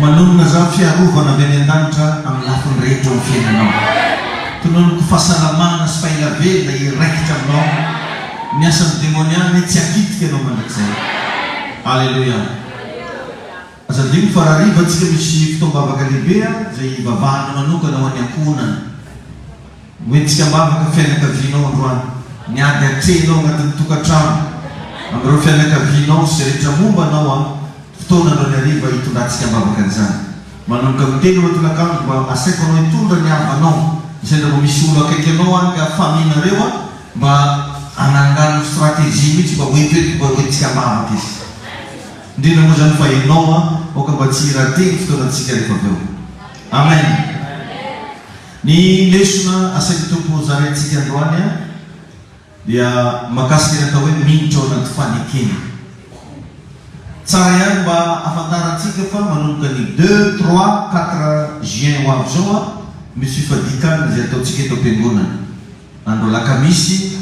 Manonona izany fiarovana avy any an-danitra amin'ny lafiny rehetra eo amin'ny fiainanao. Tononiko fahasalamana sy faelavelona hiraikitra aminao. Ny asan'ny demoniany tsy hakitika anao mandrakizay. Aleloia. Aza adino fa raha hariva antsika misy fotoam-bavaka lehibe izay hivavahana manokana ho an'ny ankohonana. Ho entika am-bavaka ny fianakavianao androany. Ny ady atrehinao anatin'ny tokantrano amin'ireo fianakavianao sy izay rehetra momba anao amin'ny fotoana androany hariva hitondrantsika am-bavaka an'izany. Manomboka amin'ny telo ireo tolankandro mba asaiko anao hitondra ny havanao. Sendra vao misy olo akaiky anao any ka faminareo an, mba anangano stratégie mihitsy mba hoento eto mba ho entika am-bavaka izy. Indrindra moa izany fa ianao an, aoka mba tsy hiraty ny fotoanantsika rehefa avy eo. Amen. Ny lesona asain'ny Tompo hozarain tsika androany an dia mahakasika ny atao hoe miditra ao anaty fanekena. Tsara ihany mba afantaran tsika fa manomboka ny deux, trois, quatre juin ho avy zao an misy fifadikan izay atao tsika eto am-piangonana. Andro alakamisy,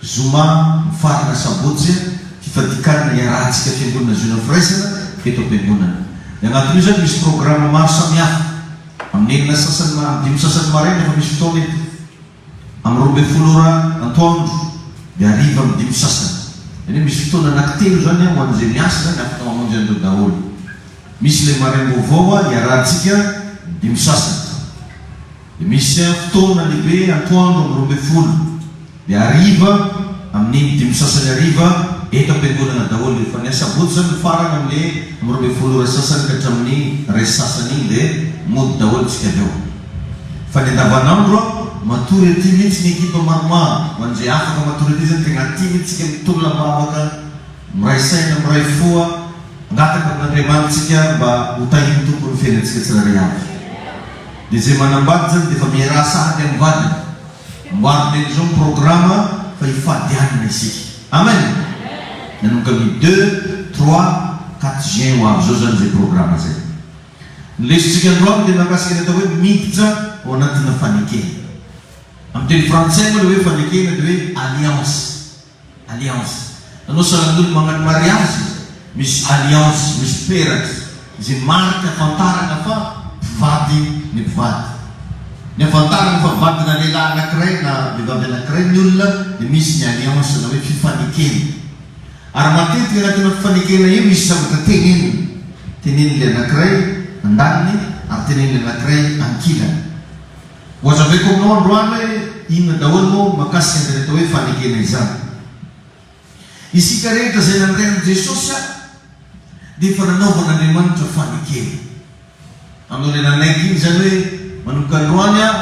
zoma, mifarana sabotsy an, fifadikan hiarahan tsika fiangonana zoina firaisana eto am-piangonana. Ny anatin'io izany misy programa maro samihafa. Amin'ny enina sasany na amin'ny dimy sasany maraina efa misy fotoana eto. Amin'ny roa ambin'ny folo ora antoandro dia hariva amin'ny dimy sasany. Izany hoe misy fotoana anankitelo izany an, ho an'izay miasa izany afaka mamonjy an'ireo daholo. Misy ilay maraim-baovao an, iarahantsika dimy sasany. Dia misy an fotoana lehibe antoandro amin'ny roa ambin'ny folo. Ny hariva, amin'iny dimy sasany hariva, eto am-piangonana daholo dia efa ny asabotsy izany no farany amin'le amin'ny roa ambin'ny folo ora sasany ka hatramin'ny iray sasany iny dia mody daholo isika avy eo. Fa ny andavan'andro a, matory aty mihitsy ny ekipa maromaro, ho an'izay afaka matory aty izany tegna aty mihitsy isika mitolona am-bavaka, miray saina, miray fo a, mangataka amin'Andriamanitra isika mba ho tahin'ny Tompo ny fiainantsika tsirairay avy. Dia izay manambady izany dia efa miaraha sahady amin'ny vadiny. Amboarina eto izao ny programa fa hifady alina isika. Amen! Nanomboka ny deux, trois, quatre juin ho avy izao izany izay programa izay. Ny lesontsika androany dia mahakasika ny atao hoe miditra ao anatina fanekena. Amin'ny teny frantsay moa ilay hoe fanekena dia hoe alliance. Alliance. Nanao salan'olona mankany mariazy misy alliance, misy peratra, izay marika ahafantarana fa mpivady ny mpivady. Ny ahafantarana fa vadina lehilahy anankiray na vehivavy anankiray ny olona dia misy ny alliance na hoe fifanekena. Ary matetika anatin'io fifanekena io misy zavatra tenenina. Tenenin'ilay anankiray andaniny ary tenenin'ilay anankiray ankilany. Ho azavaiko aminao androany hoe inona daholo no makasika an'izany atao hoe fanekena izany. Isika rehetra izay nandray an'i Jesosy ary dia efa nanaovan'Andriamanitra fanekena. Aminao ilay nanaiky iny izany hoe manomboka androany aho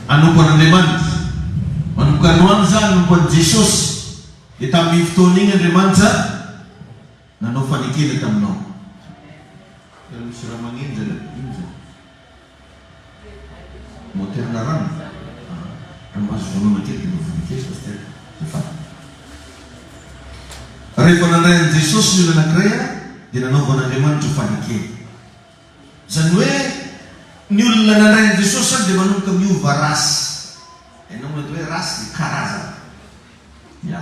hanompo an'Andriamanitra, manomboka androany za hanompo an'i Jesosy, dia tamin'iny fotoana iny Andriamanitra, Nanao fanekena taminao. Tena misy raha manenjana. Inona izany? Moteur-na rano? Aa! Raha mba azo vonona kely dia mba vononkezo Pasitera. Dia faly. Rehefa nandray an'i Jesosy ny olona anankiray aho dia nanaovan'Andriamanitra fanekena. Izany hoe ny olona nandray an'i Jesosy izany dia manomboka miova race. Hainao moa ilay atao hoe race dia karazana. Ya.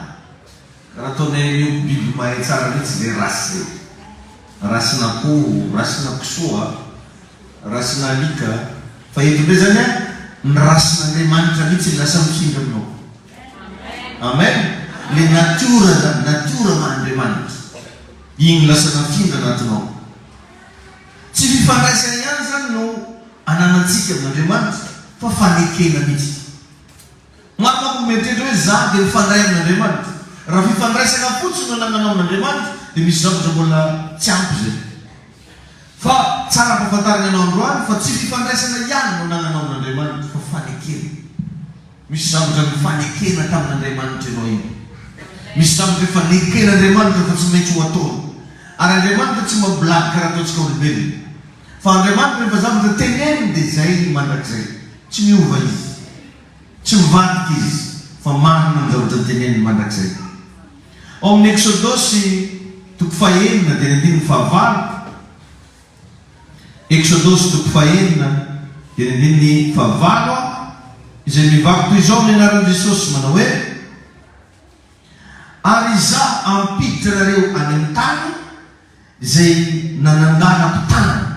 Raha toa nenio biby mahay tsara mihitsy zay race zay. Race n'akoho, race na kisoa, race na alika. Fa eto ndray zany an, ny race n'Andriamanitra mihitsy no lasa mifindra aminao. Amen. Le natiora zany, natiora maha Andriamanitra. Iny no lasa nafindra anatinao. Tsy fifandraisana ihany zany no ananantsika amin'Andriamanitra fa fanekena mihitsy. Marc Amboa miantehitra hoe izaho dia mifandray amin'Andriamanitra. Raha fifandraisana fotsiny no anananao amin'Andriamanitra dia misy zavatra mbola tsy ampy izay. Fa tsara ampahafantarina anao androany fa tsy fifandraisana ihany no anananao amin'Andriamanitra fa fanekena. Misy zavatra nifanekena tamin'Andriamanitra ianao iny. Misy zavatra efa neken'Andriamanitra fa tsy maintsy ho ataony. Ary Andriamanitra tsy mampiladika raha ataontsika olombelona. Fa Andriamanitra rehefa zavatra teneniny dia izay mandrakizay. Tsy miova Izy. Tsy mivadika Izy fa marina ny zavatra teneniny mandrakizay. Ao amin'ny Eksodosy toko fahenina dia ny andininy fahavalo, Eksodosy toko fahenina dia ny andininy fahavalo an, izay mivaky toy izao ny anaran'i Jesosy, manao hoe, Ary Izaho hampiditra anareo any amin'ny tany, Izay nanangana mpitanana.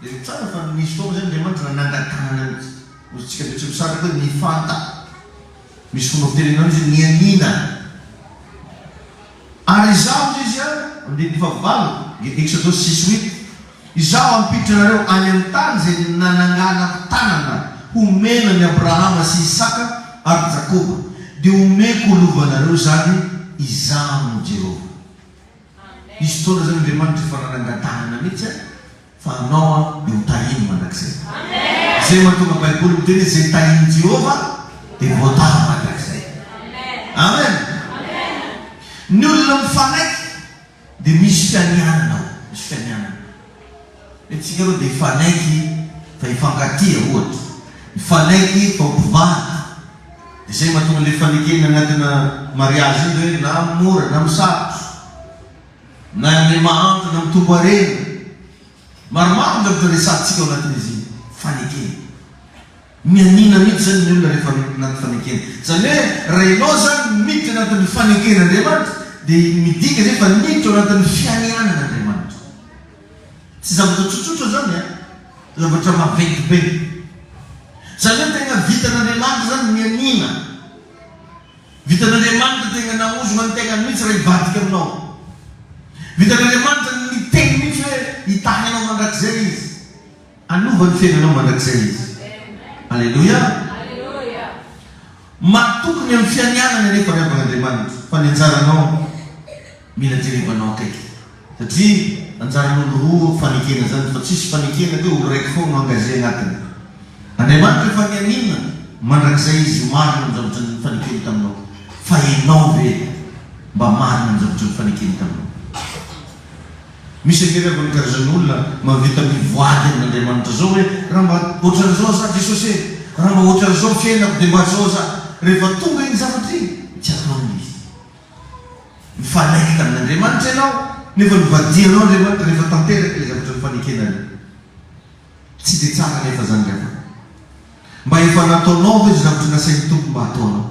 Jereo tsara fa nisy fotoana izay Andriamanitra nanangan-tanana mihitsy. Hoy isika Betsimisaraka hoe nifanta. Misy fomba fitenenana hoe izy nianiana. Ary izaho, hoy izy, andininy fahavalo, Exodus six huit, Izaho hampiditra anareo any amin'ny tany izay nanangana mpitanana homena an'i Abrahama sy Isaka ary Jakoba, dia homeko ho lovanareo izany. Izaho no Jehovah. Hisy fotoana zany Andriamanitra efa nanangatahana mihitsy an, fa anao an dia ho tahiny mandrakizay. Izay mahatonga baiboly miteny hoe izay tahin'i Jehovah dia voataha mandrakizay. Amen! Ny olona mifanaiky dia misy fianianana ao, misy fianianana. Isika aloha dia hifanaiky fa hifankatia ohatra, hifanaiky fa ho mpivady, dia zay mahatonga ilay fanekena anatina mariazy iny hoe na mora na misarotra, na ilay mahantra na mitombo harena, maromaro ny zavatra resahantsika ao anatin'izy iny, fanekena. Mianiana mihitsy izany ny olona rehefa anaty fanekena. Izany hoe raha ianao izany miditra anatin'ny faneken'Andriamanitra dia midika izay fa niditra ao anatin'ny fianianan'Andriamanitra. Tsy zavatra tsotsotra zany a! Zavatra maventy be. Zany hoe tegna vitan'Andriamanitra zany ny aniana. Vitan'Andriamanitra tegna naozona ny tegnany mihitsy raha hivadika aminao. Vitan'Andriamanitra niteny mihitsy hoe hitahy anao mandrakizay izy. Hanova ny fiainanao mandrakizay Izy. Aleloia! Matoky ny amin'ny fianianany anefa ry havana Andriamanitra, fa ny anjaranao mila jerevanao akaiky. Satria anjaran'olo roa fanekena zany, fa tsisy fanekena ka hoe olo raiky foana no engagé agnatiny. Andriamanitra efa nianiana mandrakizay Izy marina ny zavatra nifanekeny taminao. Fa enao ve mba marina ny zavatra nifanekeny taminao? Misy akery angony karazan'olona mahavita mivoady amin'Andriamanitra zao hoe raha mba ohatran'izao aza Jesosy e! Raha mba ohatran'izao fiainako dia mba zao aza! Rehefa tonga iny zavatra iny tsy ataony izy. Mifanaiky tamin'Andriamanitra ianao nefa novadianao Andriamanitra rehefa tanteraka ilay zavatra nifanekena le tsy dia tsara nefa zany ry havana. Mba efa nataonao ve izay zavatra nasain'ny Tompo mba hataonao?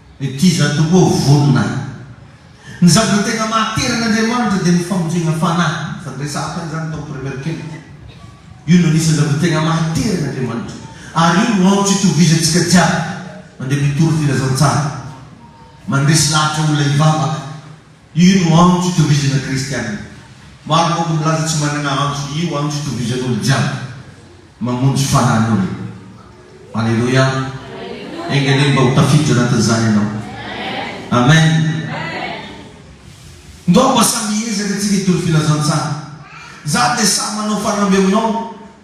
Iza tokoa ho vonona ahy? Ny zavatra tena mahatery an' Andriamanitra dia ny famonjena fanahy. Efa niresahako an'izany tao amin'ny Premier Camp. Io no anisan'ny zavatra tena mahatery an' Andriamanitra. Ary io no antso itovizantsika jiaby mandeha mitory filazantsara, mandresy lahatra olona hivavaka. Io no andro itovizana kristiana. Maro manko milaza tsy manana andro io andro itovizan'olo jiaby mamonjy fanan'olo. Aleloia. Enga anie mba ho tafiditra anatin'izany ianao. Amen. Ndao mba samy hiezaka tsika hitory filazantsara. Za dia samy manao farambe aminao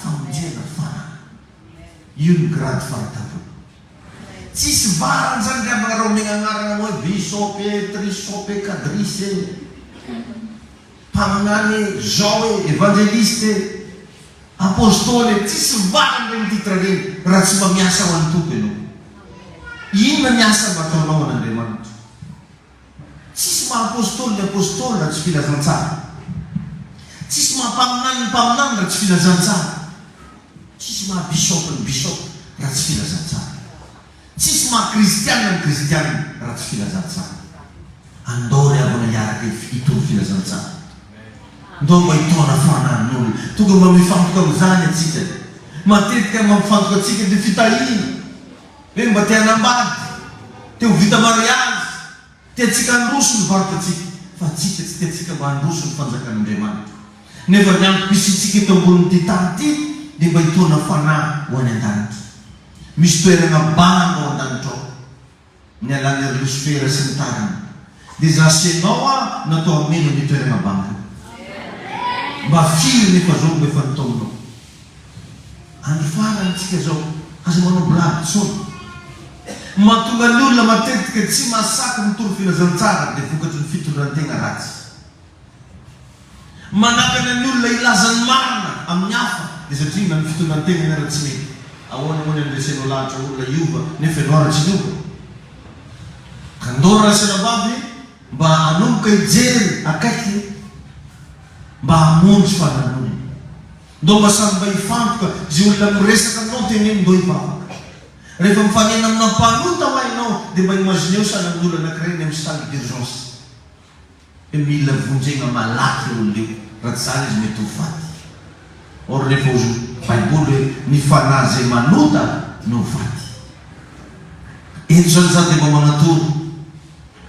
Famonjena farany. Io no grade fahitavana. Tsisy varany zany ry havana raha omegna agnarana anao hoe bishop e, trishop e, kadrisy e, mpaminany e, zao e, evangeliste e, apostoly e, tsisy varany regny titre regny raha tsy mba miasa ho an'ny Tompo ianao. Inona ny asa mba ataonao ho an'Andriamanitra? Tsisy maha apostoly ny apostoly raha tsy filazantsara. Tsisy maha mpaminany ny mpaminany raha tsy filazantsara. Tsisy maha bisaopy ny bisaopy raha tsy filazantsara. Tsisy maha kristiana ny kristiana raha tsy filazantsara. Andao ry havana hiaraka hitory filazantsara. Ndao mba hitaona fanan'ny olona. Tonga mba mifantoka amin'izany antsika. Matetika mampifantoka antsika dia fitahiana. Hoe mba te hanambady, te ho vita mariazy, tiantsika handroso ny varotratsika, fa tsika tsy tiantsika mba handroso ny fanjakan'Andriamanitra. Nefa ny antom-pisiantsika eto ambonin'ity tany ity dia mba hitaona fanahy ho any an-danitra. Misy toerana banga ao an-danitra ao, nialan'i Erlosfera sy ny tariny. Dia za sy enao a natao hameno ny toerana banga mba firy nefa zao no efa ny taonao andro farany tsika zao aza manao blague tsony mahatonga ny olona matetika tsy mahasaky mitory filazantsara dia vokatry ny fitondran-tegna ratsy. Manakana ny olona hilaza ny marina amin'ny hafa dia satria na ny fitondran-tenany ara tsy mety. Ahoana moa ny andresenao lahatra olona hiova nefa ianao ara tsy niova? Kandoro Raserabavy mba hanomboka hijery akaiky mba hamonjy fananonana. Ndao mba samy mba hifantoka izay olona miresaka aminao teneno ndao hivavaka. Rehefa mifanena amina mpanota hoa ianao dia mba imagineo sahala amin'ny olona anankiray any amin'ny salle d'urgence. Dia mila vonjegna malaky le olona io raha tsy zany izy mety ho faty or rehefa ozy ny baiboly hoe ny fanahy zay manota no faty eto zany za dia mba manatoro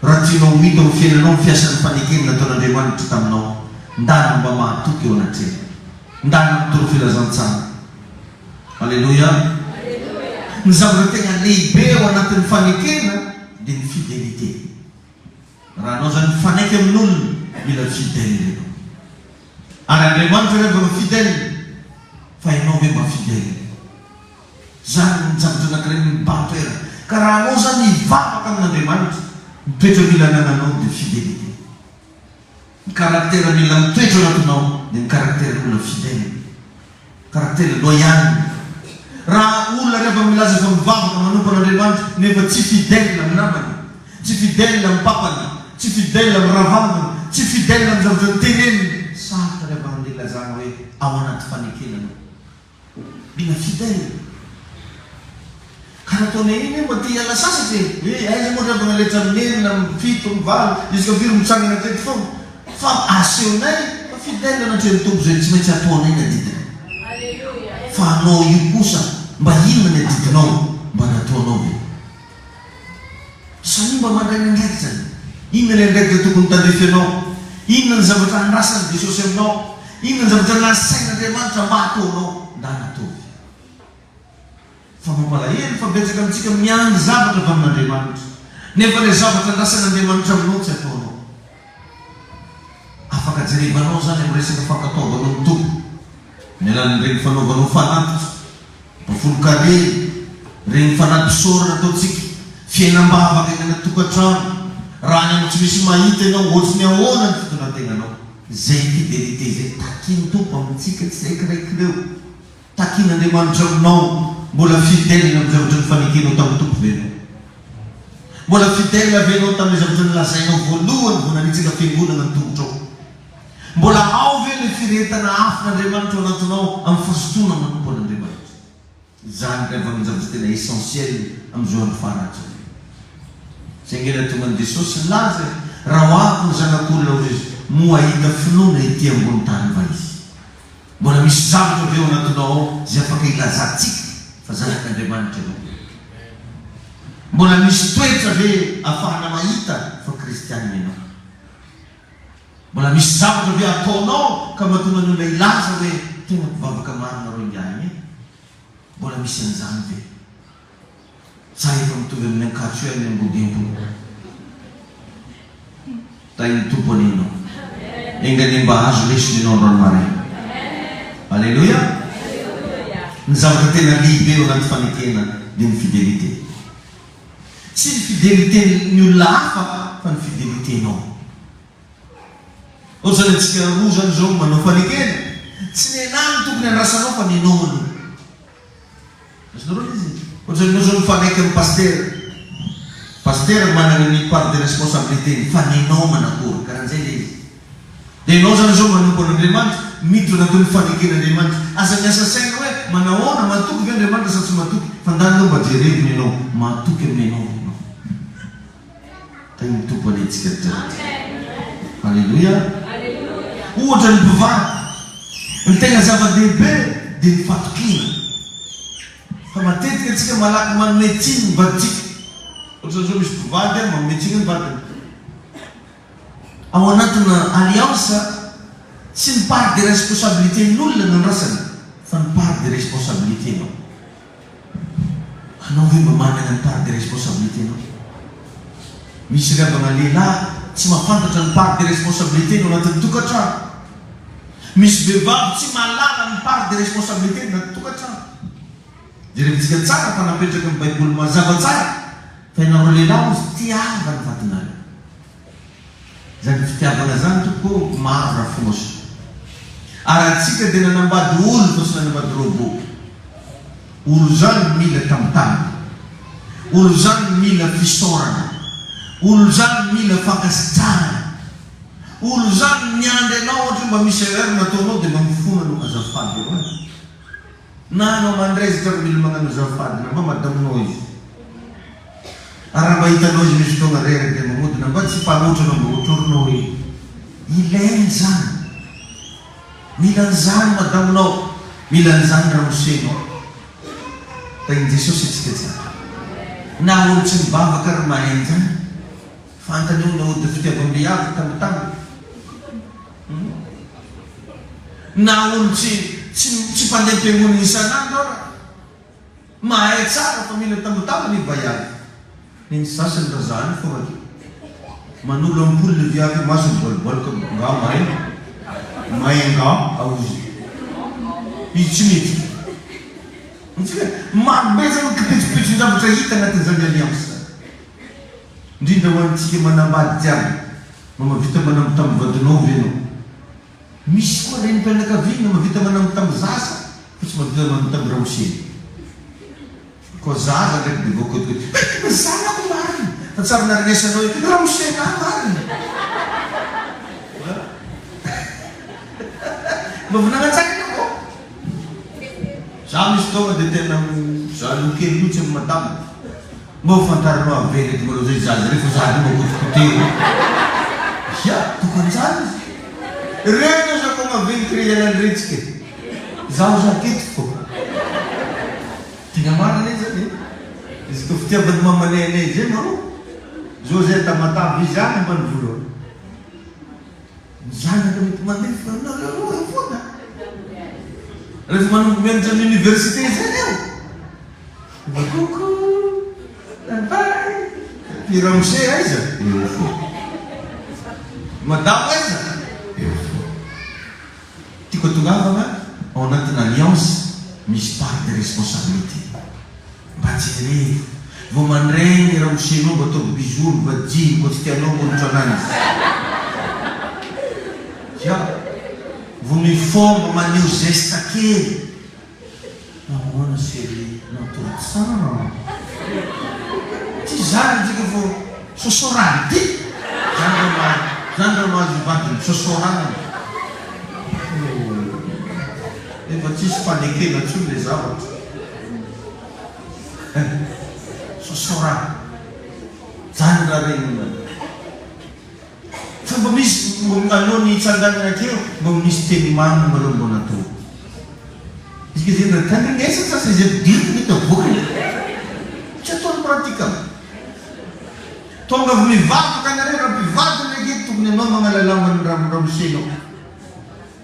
raha tianao ho hita ho fiainanao ny fiasan'ny fanekeny nataon'Andriamanitra taminao ndana mba mahatoky eo anatrehany ndana mitory filazantsara aleloia ny zavatra tegna lehibe ao anatin'ny fanekena dia ny fidelite. Raha anao izany mifanaiky amin' olona mila fidèle ianao. Ary Andriamanitra ve mba fidèle? Fa ianao ve mba fidèle? Izany ny zavatra anankiray mibahan-toerana. Ka raha anao izany hivavaka amin' Andriamanitra, ny toetra mila anananao dia fidelite. Ny karaktera mila mitoetra ao anatinao dia ny karakteran'olona fidèle, karaktera loyale. Raha olona rehefa milaza fa mivavaka manompo an'Andriamanitra nefa tsy fidèle amin'ny namany, tsy fidèle amin'ny papany, tsy fidèle amin'ny rahavaviny, tsy fidèle amin'ny zavatra noteneniny, sarotra ny havahan'ny ilazana hoe ao anaty fanekena anao. Mila vita e! Ka nataonay iny hoe mba te hiala sasatra e! Hoe aiza moa ry havana rehetra amin'ny enina, amin'ny fito, amin'ny valo, isaka firy mitsangana teto foana? Fa asehonay fa fidèle anatrehan'ny Tompo izay tsy maintsy hataonay ny adidiny. Fa anao io kosa mba inona ny adidinao? Mba nataonao ve? Samia mba mandray ny andraikiny. Inona ilay andraikitra tokony tandrify anao? Inona ny zavatra andrasan'i Jesosy aminao? Inona ny zavatra nasain'Andriamanitra mba hataonao na hataovy? Fa mampalahelo fa betsaka amintsika miandry zavatra avy amin'Andriamanitra, nefa ilay zavatra andrasan'Andriamanitra aminao tsy ataonao. Afaka jerevanao izany amin'ny resaka fankatoavanao ny Tompo amin'ny alalan'ireny fanaovanao fanatitra, bafolon karena, ireny fanampisaorana ataontsika, fiainam-bavaka eny anaty tokantrano, raha any amin'ny tsy misy mahita ianao, ohatry ny ahoana ny fitondratenanao. Izay fidelite izay takin'ny Tompo amintsika tsiraikiray ireo. Takian'Andriamanitra aminao mbola fidèle amin'ny zavatra nifanekenao tamin'ny Tompo ve ianao? Mbola fidèle ve ianao tamin'ilay zavatra nolazainao voalohany vao nanitsaka fiangonana ny tongotrao? Mbola ao ve ilay firehetana afon'Andriamanitra ao anatinao amin'ny fisotroana manompo an'Andriamanitra? Izany indray vao no zavatra tena essentiel amin'izao andro farany izao. Izay ange ilay tongan'i Jesosy sy nilaza e, raha ho avy ny Zanak'olona hoy izy, moa hahita finoana ety ambonin'ny tany va izy? Mbola misy zavatra ve ao anatinao ao izay afaka ilazantsika fa zanak'Andriamanitra ianao? Mbola misy toetra ve afahana mahita fa kristianina ianao? Mbola misy zavatra ve ataonao ka mahatonga ny olona hilaza hoe tena mpivavaka marina reo ingahy e? Mbola misy an'izany ve? Sa efa mitovy amin'ny ankatso ihany ny ambodimpo? Tahin'ny Tompo anie ianao. Enga anie mba azo lesona ianao androany maraina. Aleloia! Ny zavatra tena lehibe eo anaty fanekena dia ny fidelite. Tsy ny fideliten'ny olona hafa fa ny fidelitenao. Ohatra izany antsika roa izany izao manao fanekena, tsy ny ahy no tokony andrasanao fa ny anao aloha. Ohatran'ny miroso mifanaiky amin'ny pasitera. Pasitera manana ny part de responsabilité-ny fa ny anao manakory? Karan'izay ilay izy. Dia ianao izany izao manompo an'Andriamanitra, miditra anatin'ny ny fanekena Andriamanitra. Aza miasa saina hoe manahoana, matoky ve Andriamanitra sa tsy matoky? Fa ndany aloha mba jerevina ianao, matoky amin'ny anao ve ianao? Tenin'ny Tompo anie tsika jiaby. Aleloia. Ohatra ny mpivady, ny tena zava-dehibe dia ny fatokiana. Fa matetika tsika malaky manome tsiny ny vadintsika. Ohatra zao misy mpivady an, manome tsiny ny vadiny. Ao anatina alliance, tsy ny part de responsabilité ny olona no andrasana, fa ny part de responsabilité-nao. Anao ve mba manana ny part de responsabilité nao? Misy ry havana lehilahy tsy mahafantatra ny part de responsabilité-ny ao anatin'ny tokantrano. Misy vehivavy tsy mahalala ny part de responsabilité-ny ao anatin'ny tokantrano. Jerevintsika tsara fa napetraky ny Baiboly mazava tsara fa ianareo lehilahy hozy tiava ny vadinareo. Zany fitiavana zany tompoko ô maro ra fomosa ary antsika dia nanambady olo fa tsy nanambady robot olo zany mila tambitambina olo zany mila fisaorana olo zany mila fankasitrahana olo zany miandry anao ohatra mba misy erreur nataonao dia mba mifona anao azafady eo an. Na anao mandray izy tratra mila magnano azafady na mba madaminao izy ary raha mba hitanao izy misy fotoagna reraka dia mamodo na mba tsy mpanotra anao mba otrorinao hoe ilaigny zany mila an'izany madaminao mila an'izany ramosenao tahin'i Jesosy antsika tsara na olo tsy mivavaka ary mahay an'izany fantany io naody fitiavam-behivavy tambitamby Na olo tsy tsy mpandeha am-piangonana isan'andro ara mahay tsara fa mila tambatamba ny vaiavy. Ny sasany ra zany fôgna de manolo ampoule le viavy eo masony bôlibôlika nga may may nga aozy izy tsy miditra. Hitantsika? Maro be zany ny kipetsopetson-javatra hita agnatin'izany alliance zany. Indrindra ho antsika manambady tsy ampy mba mahavita manambitamby vadinao ve ianao? Misy koa renim-pianakaviana mahavita manambitamby zaza fa tsy mahavita manambitamby ramoseny. Koa zaza ndraiky dia voakotokoto, Hay tena zanako marina! Fa tsy ary narenesanao hoe ramosenà marina! Mba avy nanantsakana vao? Izaho misy taona dia tena mizaha loha kely loha tsy amin'ny madama. Mba ho fantarinao avy ve ireto manao izay jazz ireo fa za aloha mba potipotehina e! Ia, tokony tsara izy. Ireo izao zako maventy ireo ianaretsika e! Zaho za teto fô. Tegna marina izy zany e! Izy koa fitiavan'ny mamanay anay izay ma ô! Zao zay an-tamatave izy any ambanivola ao. Ny zanaka mety mandefa anareo roa eo foana rehefa manomboka mianatra amin'ny université izay eo. Ry koko, bye bye. I ramose aiza? Eo foana. I madamo aiza? Eo foana. Tiako atongavana ao anatina alliance misy part de responsabilité. Mba jerevo vao mandray ny ramoseinao mba ataovy bisous ny vadiny koa tsy tianao koa ny tranany ya vao mifoha mba maneho zesta kely nahoana cherie natory tsara ty zany antsika vao sosorany ty zany raha mahazo zany raha mahazo ny vadiny misosorana ohh efa tsisy fanekena tsony le zavatra. Sosorano. Zany ra reny io an. Fa mba misy alohan'ny hitsanganana aty eo mba misy teny mamy nareo mba natao. Izay zay ndray tandrinesa sasa izay vidiako mety avoakany. Tsy ataony pratikable. Tonga avy mivavaka nareo ra mpivady ndray gie tokony anao magnala lamba ny ramose nao.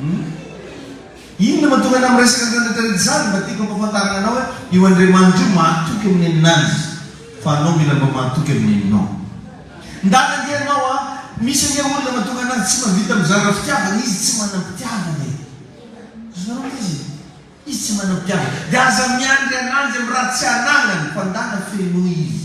Humm inona mahatonga anao miresaka an'ireo retraretra izany? Mba tiako hampahafantarina anao hoe io Andriamanitra io mahatoky amin'ny aminazy fa anao mila mba mahatoky amin'ny anao. Ndana ange ianao a! Misy ange olona mahatonga anazy tsy mahavita mizara fitiavana, izy tsy manam-pitiavana e! Azonareo maiza e? Izy tsy manam-pitiavana dia aza miandry ananjy amin'ny raha tsy anagnany fa ndana fenoy izy.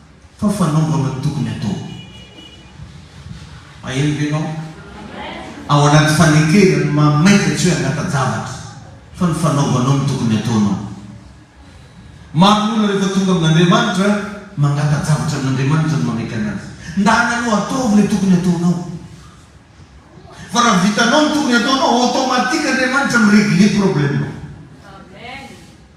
Fa fanaovana ny tokony atao. Maheno ve ianao? Ao anaty fanekena ny mahamaika tsy hoe angata-javatra fa ny fanaovanao ny tokony ataonao. Maro ny olona rehefa tonga amin'Andriamanitra, mangata-javatra amin'Andriamanitra no manaiky anazy. Ndana aloha ataovy ilay tokony ataonao. Fa raha vitanao ny tokony ataonao, automatique Andriamanitra mi-regler problème-nao.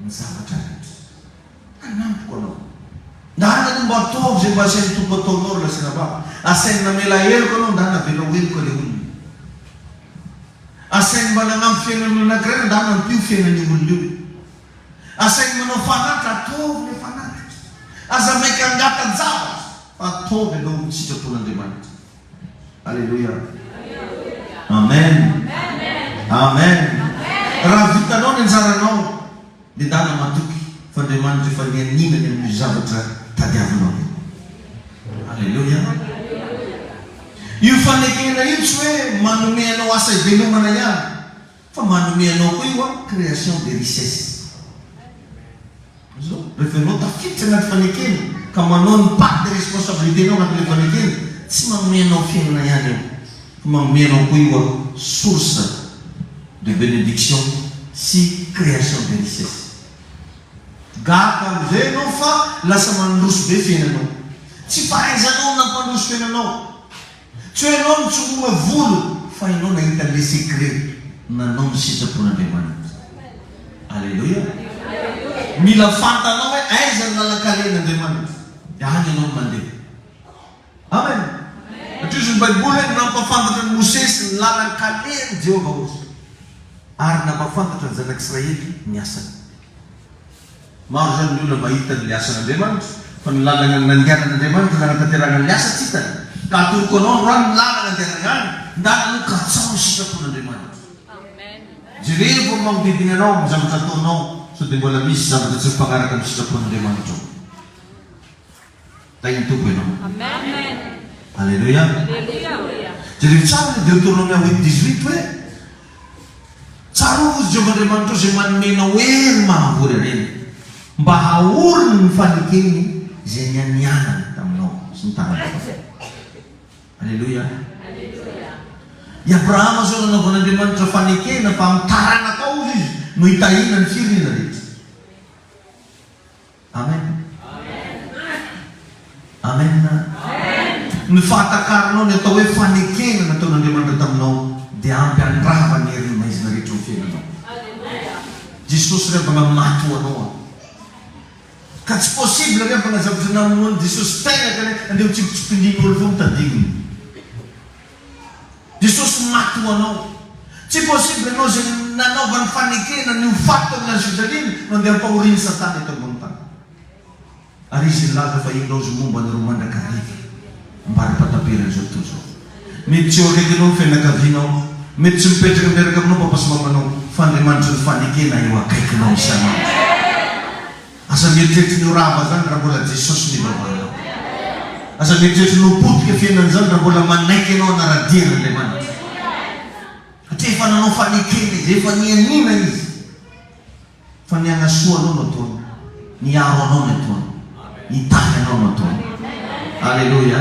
ny zavatra rehetra. Hanampiko anao. Ndana no mba ataovy izay mba asain'ny Tompo ataonao ry Laserababa. Asainy namela heloka anao ndana avela ho heloka ilay olona. Asainy mba nanampy fiainan'olona anankiray anao ndana ampio fiainan'io olona io. Asainy manao fanatitra ataovy ilay fanatitra. Aza maika hangata-javatra fa ataovy aloha ny sitrapon'Andriamanitra. Aleloia. Amen. Amen. Raha vitanao ny anjaranao, dia ndana matoky fa Andriamanitra efa nianiana ny amin'io zavatra tadiavinao io. Aleloia. Io fanekena io tsy hoe manome anao asa ivelomana ihany. Fa manome anao koa io an, création des richesses. Azony? Rehefa ianao tafiditra anaty fanekena ka manao ny part de responsabilité nao anatin'ilay fanekena, tsy manome anao fiainana ihany io, fa manome anao koa io an, source de benediction sy création des richesses. Gaga amin'izay ianao fa lasa mandroso be fiainanao. Tsy fahaizanao nampandroso fiainanao. Tsy hoe ianao no tsy omana vola fa ianao nahita le secret nanao ny sitrapon'Andriamanitra. Aleloia. Mila fantanao hoe aiza ny lalan-kalen'Andriamanitra dia any ianao no mandeha. Amen. Satria hozy ny baiboly hoe nampafantatra an'i Mosesy ny lalan-kalen'i Jehovah hozy ary nampafantatra ny zanak'Israely ny asany. Maro izany ny olona mahita ny asan' Andriamanitra, fa ny lalana nandehanan' Andriamanitra no hanatanterahana ny asa tsy hitany. Ka atoroko anao androany ny lalana andehanana any, ndana aloha katsaho ny sitrapon' Andriamanitra. Jerevo ny manodidina anao, ny zavatra ataonao, sao dia mbola misy zavatra tsy mifanaraka amin'ny sitrapon' Andriamanitra ao. Hay ny Tompo ianao. Amen. Aleloia. Aleloia. Jereo tsara ny Deuteronomia huit dix huit hoe, Tsarovy i Jehovah Andriamanitrao izay manome anao hery mahavory harena, mba haoriny ny fanekeny izay nianianany taminao sy ny taranakao. Aleloia. Aleloia. I Abrahama izao nanaovan'Andriamanitra fanekena fa amin'ny taranakao, hozy izy, no hitahiana ny firenena rehetra. Amen. Amen. Ny fahatakaranao ny atao hoe fanekena nataon'Andriamanitra taminao dia ampy handrava ny herin'ny maizina rehetra eo amin'ny fiainanao. Jesosy re mba namaty ho anao aho. Ka tsy possible re mba nazahoan'i Jesosy namonoan'i Jesosy tegna ka re andeha ho tsipitsipindrin'olo foana tadinony. Jesosy maty ho anao. Tsy possible ianao izay nanaovany fanekena ny ho faty tao amin'i Al-Shajalin no andeha ampahorian'i Satana eto ambony tany. Ary izy nilaza fa hindaozy momba anareo mandrakariva. Ambara pataperany izao tontolo izao. Mety tsy eo akaikinao ny fianakavianao. Mety tsy mipetraka miaraka aminao papa sy mamanao. Fa Andriamanitry ny fanekena eo akaikinao isan'andro. Aza mieritreritra ny ho rava zany raha mbola Jesosy no ivavanao. Aza mieritreritra ny ho potika fiainana zany raha mbola manaiky anao hanara-dia an'Andriamanitra. Satria efa nanao fanekena izy, efa nianiana izy fa ny hanasoa anao no ataony, ny hiaro anao no ataony, hitahy anao no ataony. Aleloia.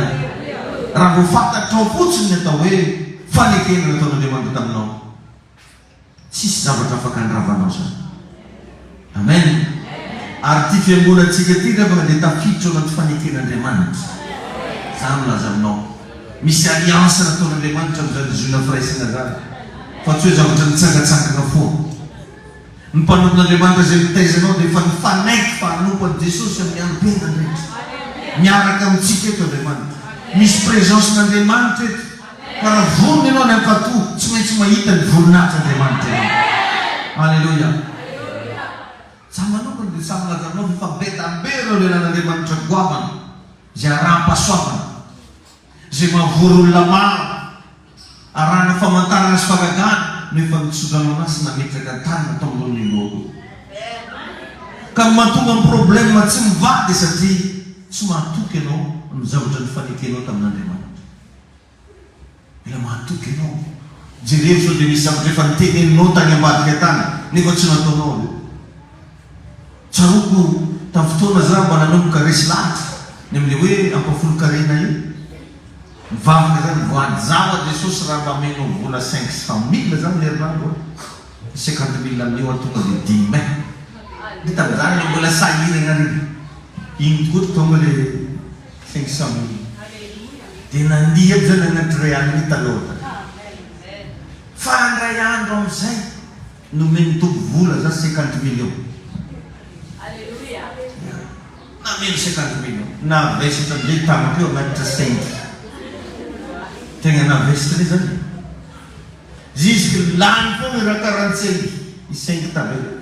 Raha vao fantatrao fotsiny ny atao hoe fanekena nataon'Andriamanitra taminao Tsisy zavatra afaka andravanao zany. Amen! Ary ity fiangonantsika ity ndrefana dia tafiditra ao anaty faneken'Andriamanitra. Za milaza aminao, misy alliance nataon'Andriamanitra amin'izany zoina firaisana zany, fa tsy hoe zavatra nitsangatsangana foana. Ny mpanompon'Andriamanitra izay mitaiza anao dia efa nifanaiky fa hanompo an'i Jesosy amin'ny androm-piainany rehetra. Miaraka amintsika eto Andriamanitra. Misy présence-n'Andriamanitra eto. Fa raha vorona ianao any ampatoa, tsy maintsy mahita ny voninahitr'Andriamanitra ianao. Aleloia! Izaho manokana dia samy lazarinao fa efa be dia be ireo lelan'Andriamanitra goavana, izay araham-pahasoavana, izay mahavory olona maro arahina famantarana sy fagagana no efa nitsodranoana sy nametraka tanana tao ambony ny lohako. Ka ny mahatonga ny problème tsy mivaha dia satria tsy mahatoky ianao ny zavatra nifanekenao tamin'Andriamanitra. Mila mahatoky ianao. Jereo sao dia misy zavatra efa noteneninao tany ambadika tany nefa tsy nataonao aloha. Tsaroako tamin'ny fotoana za mba nanomboka resy lahatra ny amin'ilay hoe ampahafolon-karena io. Nivavaka za, nivoady za ho'a Jesosy raha mba amenao vola cinq cent mille za amin'ny herinandro an! Ny cinquante mille amin'io an tonga dia dimy mai. Dia tamin'izany ilay mbola sahiragna re. Iny tokoa tonga ilay. Thanks Sammy. Dia nandihy aby zany anaty Real ny Talota. Fa indray andro amizay nomen'ny Tompo vola za cinquante millions. Ya. Nameno cinquante millions. Navesatra amizay tany teo anaty Saint. Tegna navesatra be zany e. Jusque lany foana raha quarante cinq i Saint tavela.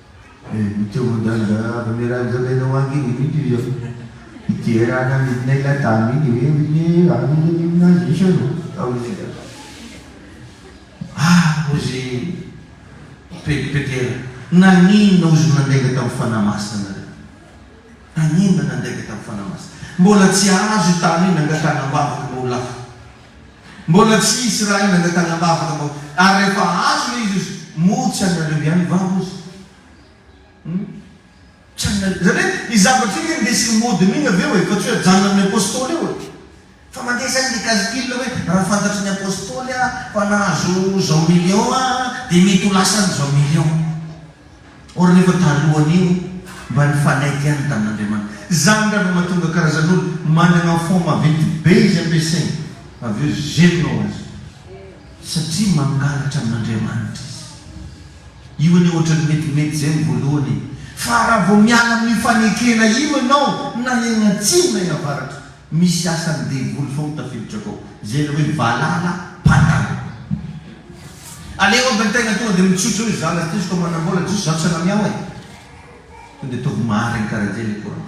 Mitovy migadra Mme Rajoelina ho ange ny mito izy eo. Mijery any hanidina ilay dame iny ve ilay any aminazy misy eo no atao ilay zavatra. Ah ozy pede pedera. Naninona ozy nandainga tamin'ny fanahy masina nareo? Naninona nandainga tamin'ny fanahy masina? Mbola tsy azo io tany io nangatahana ambavaka mba ho lafo. Mbola tsy hisy raha iny angatahana am-bavaka vao ary rehefa azo ilay izy ozy moa tsy anareo ihany va ozy hum tsy anareo izany hoe io zavatra io ve ndesin'ny mody mihina ve oe fa tsy hoe ajanonan'ny apostoly io oe fa mandeha izany ny calcul hoe raha fantatry ny apostoly aho fa nahazo izao million aho dia mety ho lasan'izao million Or nefa talohan'io mba nifanaiky ihany tamin'Andriamanitra. Zany ndra vao mahatonga karazan'olo managna enfant maventy be izy ampiasainy avy eo zerina ho azy satria mangalatra amin'Andriamanitra izy. Io anie ohatran'ny metimety zay amin'ny voalohany e! Fa raha vao miala amin'io fanekena io ianao na egna atsimo na egna avaratra, Misy asan'ny devoly foana tafiditra akao. Izay ilay hoe valala mpandalo. Aleo aby ny tegna tonga dia mitsotra hoe za lahy ty zko manambola dia zao tsy anamiao e. Tonga dia ataovy marigny karaha zay ilay courant.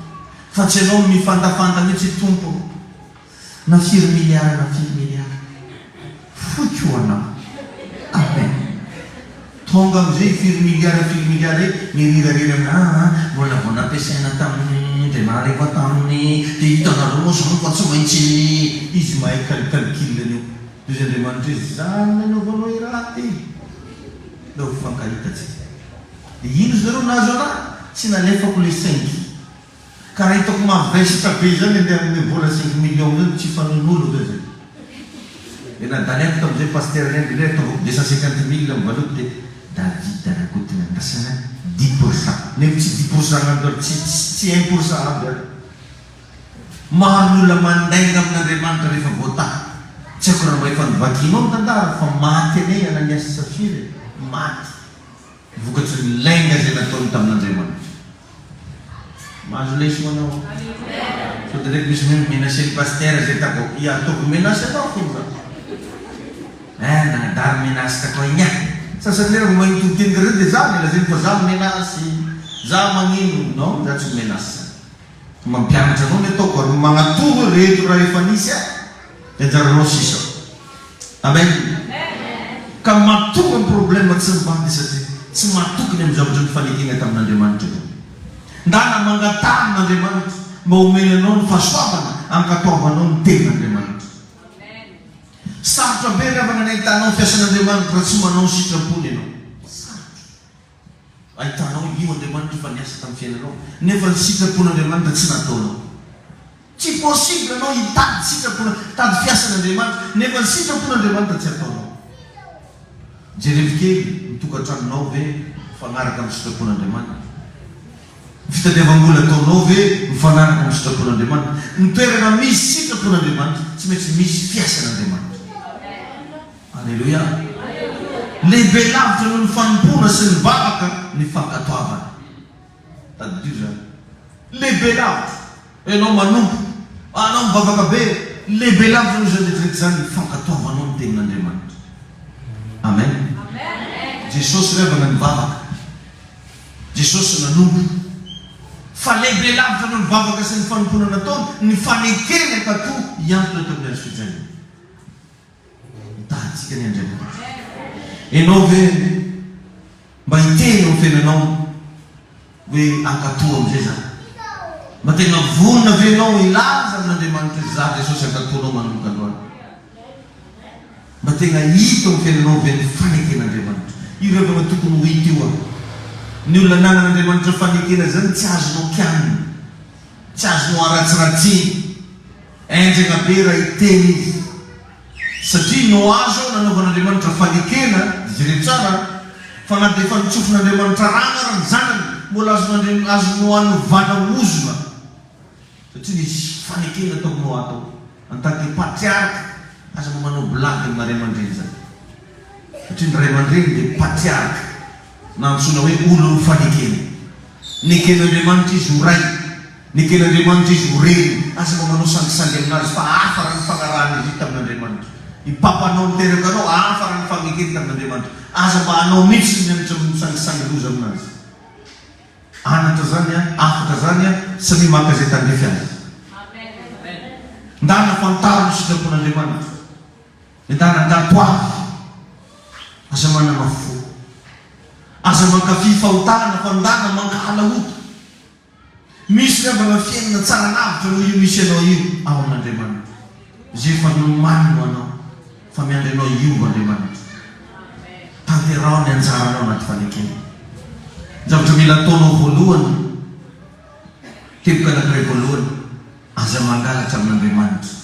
Fa tsy anao no mifandafanda mihitsy Tompo ô. Na firy milliard na firy milliard. Foiko anao. Amen. Tonga amizay i firy milliard firy milliard e, ny rirariry am ah ah mbola vao nampiasaina tam de nahariva tam de hitanareo moa zany fa tsy maintsy izy mahay cal calcul an'io de izy Andriamanitra hoe zany nanaovanao i raty e de ho fankahitatsika de ino izy nareo nahazo anah tsy nalefako le saingy Ka raha hitako mavesatra be izany andeha hanome vola cinq millions eo tsy hifanonolo ve zay? Dia nadalihako tamin'izay Pasitera Hendry Lery taovako deux cent cinquante mille amin'ny valopy dia David Rakotonandrasana dix pour cent nefa tsy dix pour cent ampy ary tsy tsy un pour cent ampy ary maro ny olona mandainga amin'Andriamanitra rehefa voataha tsy haiko raha mba efa novakianao ny tantara fa maty aney Ananias sy Safira e! maty Vokatry ny lainga izay nataony tamin'Andriamanitra. Mahazo leso anao? Sao dia reto misy mino menacer ny pasteur izay tako ia ataoko menace anao akory za. Eeh nanadary menace takoa igny ah. Sasany rera vao mahay mitovy teny karaha zay dia za no lazainy fa za menace, za magnino, non za tsy menace. Mampianatra anao ny ataoko ary magnatoro ireto raha efa nisy ahy dia anjaranao sisa. Amen. Ka matoky amin'ny problème tsy mivady satria tsy matoky ny amin'ny zavatra nifanekena tamin'Andriamanitra ianao. Ndana mangataha amin'Andriamanitra mba homeny anao ny fahasoavana ankatoavanao ny tenin'Andriamanitra. Sarotra be ry havana ny ahitanao ny fiasan'Andriamanitra raha tsy manao ny sitrapony ianao. Sarotra. Ahitanao io Andriamanitra fa niasa tamin'ny fiainanao nefa ny sitrapon'Andriamanitra tsy nataonao. Tsy possible anao hitady sitrapon hitady fiasan'Andriamanitra nefa ny sitrapon'Andriamanitra tsy ataonao. Jerevo kely ny tokantranonao ve mifanaraka amin'ny sitrapon'Andriamanitra? Ny fitadiavam-bola ataonao ve mifanaraka amin'ny sitrapon'Andriamanitra? Ny toerana misy sitrapon'Andriamanitra tsy maintsy misy fiasan'Andriamanitra. Aleloia! Lehibe lavitra noho ny fanompoana sy ny vavaka ny fankatoavana. Tadidio izany. Lehibe lavitra. Ianao manompo, anao mivavaka be, lehibe lavitra noho izany rehetrarehetra izany ny fankatoavanao ny Tenin'Andriamanitra. Amen. Jesosy revana ny vavaka. Jesosy nanompo. Fa lehibe lavitra noho ny vavaka sy ny fanompoana nataony ny fanekeny hankatò hiantona teo amin'ny hazo fijaliana. Mitady an'i Andriamanitra. Ianao ve mba hiteny eo amin'ny fiainanao hoe ankatoa amin'izay za? Mba tena vonona ve ianao hilaza amin'Andriamanitra hoe za Jesosy ankatoanao manomboka androany? Mba tena hita eo amin'ny fiainanao ve ny faneken'Andriamanitra? Io rehefa ilay tokony ho hita io an! Ny olona ananan'Andriamanitra fanekena izany tsy azonao kianina, tsy azonao aratsiratsina. Enjana be raha hiteny izy satria no azo nanaovan'Andriamanitra fanekena, jereo tsara a, fa na dia efa notsofin'Andriamanitra rano ary ny zanany mbola azon'Andriam azo noanovana ozona satria nisy fanekena tao Noa tao, en tant que patriarka aza mba manao blague ny maray aman-dreny zany satria ny ray aman-dreny dia patriarka. na antsoina hoe olon'ny fanekena. Neken'Andriamanitra izy ho Ray, neken'Andriamanitra izy ho Reny. Aza mba manao sangisangy aminazy fa hafa raha ny fanarahan'izy io tamin'Andriamanitra. Ny papanao niteraka anao hafa raha ny fanekeny tamin'Andriamanitra. Aza mba hanao mihitsy ny anatra amin'ny sangisangy loza aminazy. Anatra zany an, afaka zany an, samia maka izay tandrify azy. Ndana fantaro ny sitrapon'Andriamanitra. Entana tato avy. Aza manama fo. Aza mankafy fahotana, fandana, mankahala ota. Misy ravana fiainana tsara lavitra noho io misy anao io ao amin'Andriamanitra. Izay efa nomany ho anao fa miandry anao hiova Andriamanitra. Tanteraho ny anjaranao anaty fanekena. Ny zavatra mila ataonao voalohany, teboka anankiray voalohany, aza mangalatra amin'Andriamanitra.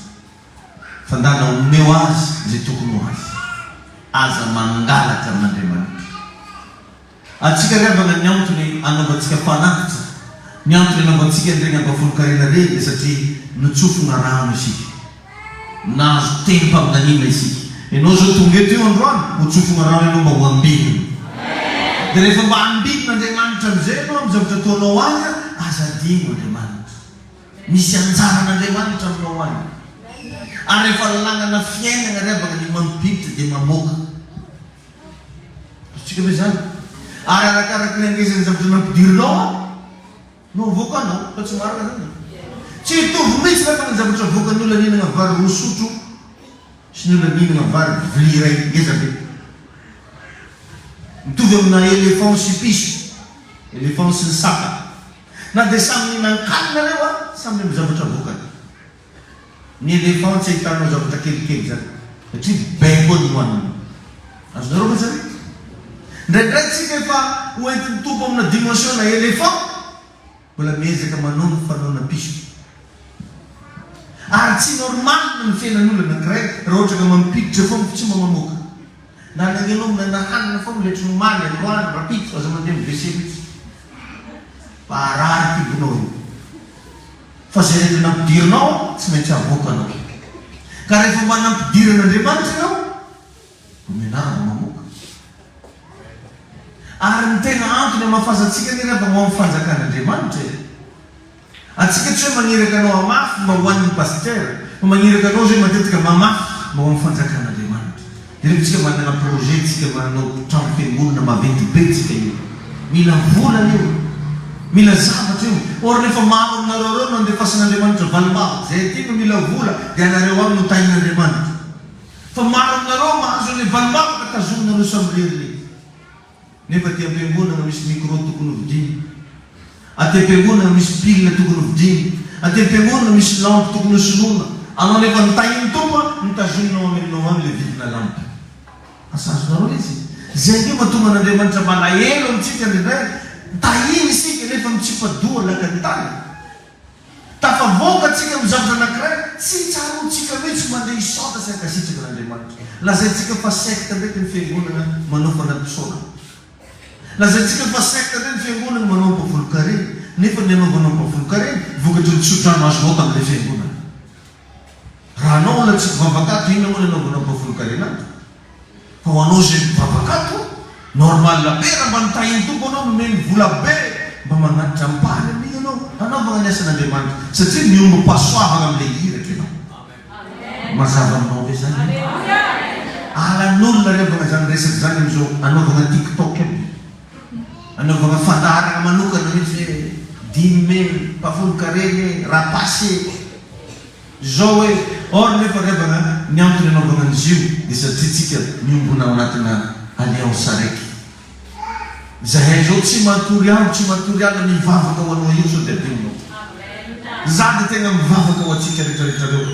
Fandàna omeo azy izay tokony ho azy. Aza mangalatra amin'Andriamanitra. Antsika ry havana ny antony anaovantsika fanatitra, ny antony anaovantsika an'ireny ambafolon-karena ireny dia satria notsofina rano isika. Nahazo tenim-paminaniana isika. Ianao izao tonga eto io androany, hotsofina rano ianao mba ho ambinina. Dia rehefa mba ambinina Andriamanitra amin'izay ianao amin'ny zavatra ataonao azy, aza adino Andriamanitra. Misy anjaran'Andriamanitra aminao any. Ary rehefa lanana fiainana ary avana ny manodiditra dia mamoaka. Azontsika ve izany? Ary arakaraky ny hangezan'ny zavatra nampidirinao an, no avoakanao. Fa tsy marina izany e. Tsy hitovy mihitsy angamba ny zavatra avoakan'ny olona nihinana vary roa sotro sy ny olona nihinana vary vilia iray ngeza be. Mitovy amina éléphant sy piso, éléphant sy ny saka. Na dia samy mihinan-kanina ireo an, samy amin'ny zavatra vokany. Ny elefan tsy ahitanao zavatra kelikely izany satria bacon no haniny. Azonareo mantsy ve? Indraindray tsika efa ho entin'ny Tompo amina dimension na elefan, mbola miezaka manao ny fanaona piso. Ary tsy normal ny fiainan'olona anankiray raha ohatra ka mampiditra foana fa tsy mamamoaka. Na ny anao mbola nahanana foana oletry ny omaly, androany, rapitso, aza mandeha amin'ny WC mihitsy fa harary kibonao io. Fa izay rehetra nampidirinao tsy maintsy havoaka anao. Ka rehefa mba nampidirin'Andriamanitra ianao, dia mianara vao mamoaka. Ary ny tena antony hamafazantsika anefa vao ao amin'ny fanjakan'Andriamanitra e. Antsika tsy hoe maniraka anao hamafy mba ho an'ny pasitera, fa maniraka anao izay matetika mamafy mba ho an'ny fanjakan'Andriamanitra. Jereo tsika manana projet tsika manao trano fiangonana maventy be tsika io. Mila vola io. Mila zavatra io. Or rehefa maro aminareo ireo no andefasan'Andriamanitra valimbavaka izay aty no mila vola dia anareo ihany no tahin'Andriamanitra. Fa maro aminareo mahazo an'ilay valimbavaka tazominareo samirery lety. Nefa aty am-piangonana no misy micro tokony ho vidiana. Aty am-piangonana no misy pile tokony ho vidiana. Aty am-piangonana no misy lampy tokony ho soloina. Anao nefa ny tahin'ny Tompo an, ny tazoninao ameninao any ilay vidina lampy. Asa azonareo mihitsy e. Izay ange mahatonga an'Andriamanitra malahelo amintsika indraindray. Tahiny isika nefa mitsipa-doha lakan'ny tany. Tafavoaka tsika amin'ny zavatra anankiray tsy tsaroantsika mihitsy mandeha hisaontra sy hankasitraka an'Andriamanitra. Lazaintsika fa secte mety ny fiangonana manao fanadin-tsaonana. Lazaintsika fa secte ve ny fiangonana manao ampavolon-karena, nefa ny anaovanao ampavolon-karena vokatry ny tsodrano azonao tamin'ilay fiangonana. Raha anao olona tsy mpivavaka ato, inona moa ny anaovanao ampavolon-karena ato? Fa ho anao izay mivavaka ato, normal be raha mba ny tahin'ny Tompo anao nomeny vola be mba manatitra ampahany amin'iny ianao hanaovana ny asan'Andriamanitra satria miombom-pahasoavana amin'ilay iraka ianao. Mazava aminao ve izany? Alan'olona anaovana izany resaka izany amin'izao anaovana tiktok aby, anaovana fandaharana manokana mihitsy hoe dimy mai, mpafonon-karena e, rapasy e. Zoe, Or nefa ry havana an, ny antony anaovana an'izy io dia satria tsika miombona ao anatina alliance araiky. Izahay izao tsy matory andro tsy matory alina mivavaka ho anao io sao dia adinonao. Za dia tena mivavaka ho antsika retraretrareo.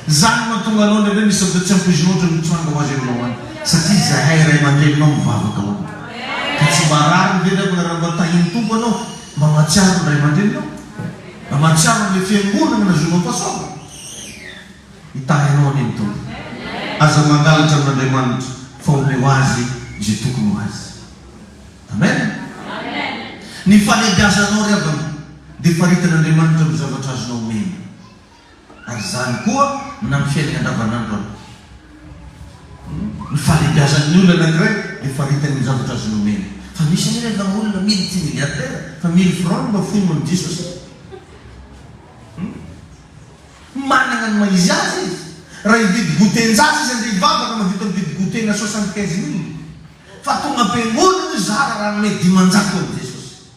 Zany no mahatonga anao indraindray misy zavatra tsy ampoizinao ohatran'ny mitranga ho azy eo ianao any satria izahay ray aman-dreninao mivavaka ho anao. Ka tsy mba rariny ve ry havana raha mba tahin'ny Tompo anao? Mba mahatsiaro ny ray aman-dreninao? Mba mahatsiaro ilay fiangonana nazovinao fahasoavana? Hitahy anao anie ny Tompo. Aza mangalatra amin'Andriamanitra fa omeo azy izay tokony ho azy. Amen. Ny fahalebiazanao ry havana dia faritan'Andriamanitra amin'ny zavatra azonao omena. Ary izany koa na amin'ny fiainana andavanandro ary. Ny fahalebiazan'ny olona anankiray dia faritany ny zavatra azony omena. Fa misy anefa efa olona mily tsy milliardaire fa mily franc no mba foiny noho ny diso aza. Manana ny maha izy azy izy. Raha hividy goûter an-jaza izy andeha hivavaka no vita mividy goûter-na soixante quinze mille. Fa tonga am-piangonana izy zara raha hanome dimanjato an'i Jesosy.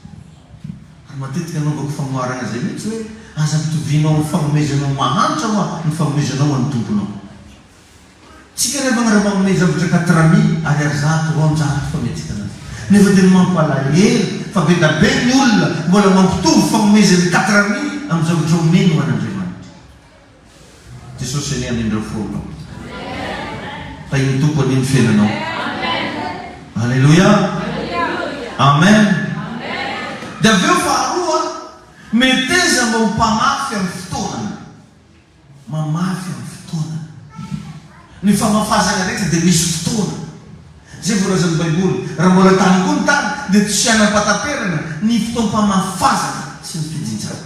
Ary matetika anaovako famoharana izay mihitsy hoe, Aza pitoviana ho fanomezana ho mahantra hoa ny fanomezanao ho an'ny Tomponao. Tsika anefa ny ara-manome zavatra katrami ary ary zato roanjato fa miatrikana azy. Nefa tena mampalahelo fa be da be ny olona mbola mampitovy fanomezany katrami amin'ny zavatra omeny ho an'Andriamanitra. Jesosy anie anindreo fo anao. Tahin'ny Tompo anie ny fiainanao. Aleloia. Amen. Dia avy eo faharoa, meteza mba ho mpamafy amin'ny fotoanany. Mamafy amin'ny fotoanany. Ny famafazana rehetra dia misy fotoana. Izay voalazan'ny Baiboly. Raha mbola tany koa ny tany dia tsy hanam-pataterana ny fotoam-pamafazana sy ny fijinjana.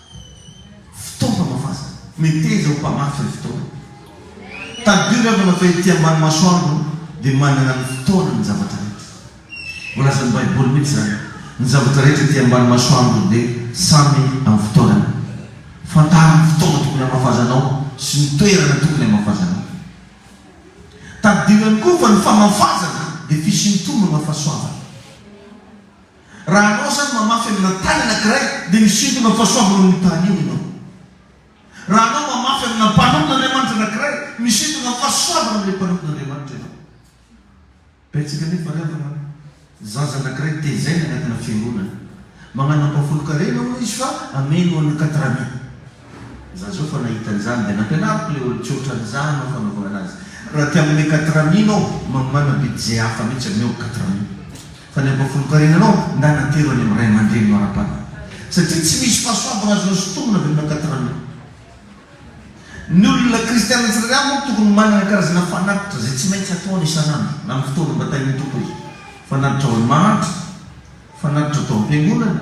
Fitaovana vazana. Meteza ho mpamafy ny fotoana. Tadidio ny havana fa ety ambany masoandro dia manana ny fotoana ny zavatra rehetra. Voalazan'ny Baiboly mihitsy izany, Ny zavatra rehetra ety ambany masoandro dia samy amin'ny fotoanany. Fantaro ny fotoana tokony hamafazanao sy ny toerana tokony hamafazanao. Tadidio ihany koa fa ny famafazana dia fisian'ny tombo na fahasoavana. Raha anao izany mamafy amina tany anankiray dia misintona fahasoavana amin'io tany io ianao. Raha anao mamafy amina mpanompn'Andriamanitra anankiray, misintona fahasoavana amin'ilay mpanompn'Andriamanitra ianao. Betsaka anefa ry havana zaza anankiray tezaina anatina fiangonana. Magnano ampahafolon-karena hono izy fa ameno ho an'ny Katrami. Za zao fa nahita an'izany dia nampianariko ilay olon-tsotra ny za hanao fanaovana anazy. Raha aty amin'ny quatre amis nao mamana be dizay hafa mihitsy amin'ny ao quatre amis. Fa ny ampahafolon-karena nao ndà natero any amin'ny ray aman-dreninao ara-panahy. Satria tsy misy fahasoavana azonao sintomina avy amina quatre amis. Ny olona kristiana tsirairay avy manko tokony manana karazana fanatitra izay tsy maintsy ataony isan'andro na amin'ny fotoana mba tahin'ny Tompo izy. Fanatitra ao amin'ny mahantra, fanatitra atao am-piangonana.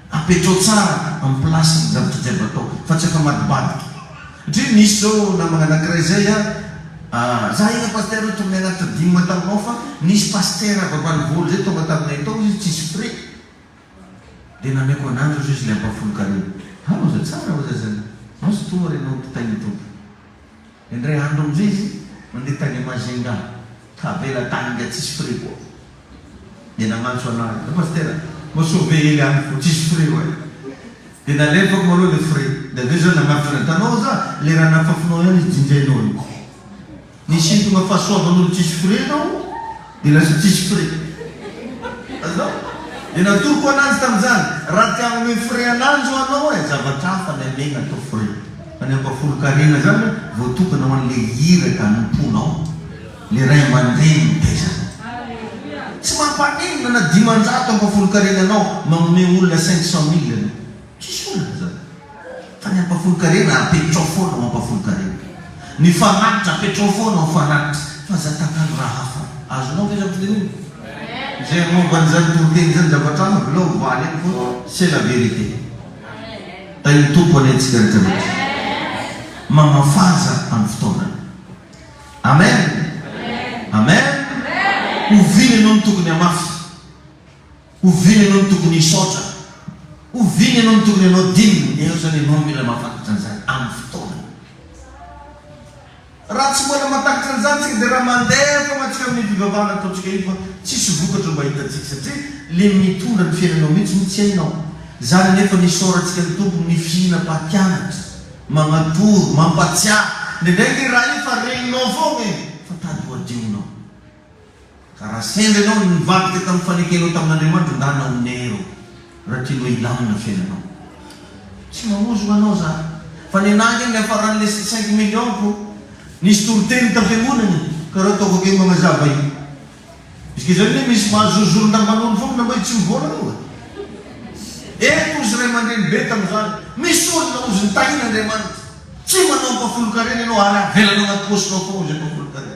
Apetrao tsara am place ny zavatra jiaby atao fa tsy afamadibadika satria misy zao namana anakiray zay a za ina pasteur io to mianatra dime taminao fa nisy pasteur vavalivolo zay tonga taminay tao izy tsisy frais de nameko ananjy ozy izy le ampafolokany iny ha oza tsara oza zany mazotoa re nao mpitay ny tompo. Indray andro amin'izay izy nandeha tany Majinga ka avela tany ingahy tsisy frais koa. Dia nagnantso anah izy, ry Pasitera, mba sao ve ela any vao tsisy frais hoy aho. Dia nalefako malou ilay frais. Dia avy eo zah nagnafika anah, hitanao zah, ilay raha nafafinao ihany izy jinjainao io. Nisintogna fahasoavan'olo tsisy frais ianao. Dia lasa tsisy frais. Azonao? Dia natoroko ananjy tamin'izany, raha te hanome frais ananjy ho anao e, zavatra hafa ny anay natao frais. Fa ny ampahafolon-karena izany voatokana ho an'ilay iraka anompoanao, ilay ray aman-dreny mitaiza anao. Tsy mampaninona na dimanjato ampahafolon-karena anao manome olona cinq cent mille anao. Tsisy olana izany. Fa ny hampafolon-karena apetrao foana ho hampafolon-karena. Ny fanatitra apetrao foana ho fanatitra. Fa izay tantara raha hafa. Azonao ve izany fitenenana? Izay momba an'izany toriteny izany zavatra hafa avelao ho valy any foana. C'est la vérité. Tahin'ny Tompo anie antsika rehetra rehetra. Mamafaza amin'ny fotoanany. Amen! Amen! Oviana ianao no tokony hamafy? Oviana ianao no tokony hisaotra? Oviana ianao no tokony hanao dina? Eto izany ianao no mila mahafantatra an'izany amin'ny fotoanany. Raha tsy mbola mahatakatra an'izany isika dia raha mandeha foana isika amin'ny fivavahana ataontsika io fa tsisy vokatra mba hitantsika satria ilay mitondra ny fiainanao mihitsy no tsy hainao. Izany anefa no isaorantsika ny Tompo amin'ny fihinam-pahatianatra, magnatoro, mampatsiahy, indraindray ny Ray fa regninao foana e, fa tadiho adihonao. Ka raha sendra ianao no nivadika tamin'ny fanekenao tamin'Andriamanitra angaha naoneiro raha tianao hilamina fiainanao. Tsy mamozoka anao za fa ny anah ange niafaran'ny lesy cinq millions ko nisy toriteny ny tafiangonana e! Ka raha ataoko akaiky magnazava io juska izao anie misy mahazo zozorondamban'olo foagna na mba tsy mivôla anao va? Eto ozy ray aman-dreny be tamin'izany misy olona ozy nitahian'Andriamanitra tsy manao ampahafolon-karena ianao ary avelanao agnaty pôsinao foagna ozy ampahafolon-karena.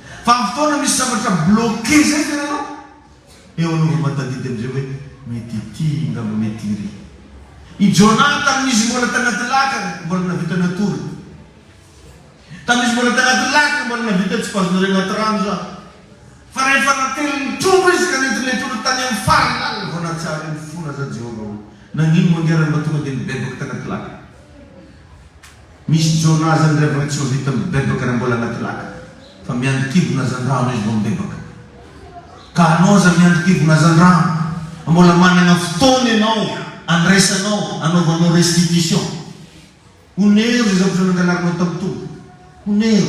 Vanim-potoana misy zavatra bloquer zay ve ianao? Eo anao vao mahatadidy amizay hoe mety ity ngamba mety iry. I Jonah tamin'izy mbola tanaty laka mbola navita natory. Tamin'izy mbola tanaty laka mbola navita tsy bazina re anaty rano za. Fa rehefa natelin'ny trondro izy ka nentin'ilay trondro tany amin'ny farany lalina vao nahatsiaro iny fona za Jehovah hoe nagnino moa ange raha mba tonga dia nibebaka tanaty laka. Misy jona aza ny reviny tsy ho vita mibebaka raha mbola anaty laka fa miandry kibona aza andramo izy vao mibebaka. Ka anao aza miandry kibona aza andramo fa mbola managna fotoana ianao andraisanao anaovanao restitution. Onero izay zavatra nangalarinao tamin'ny Tompo. Onero.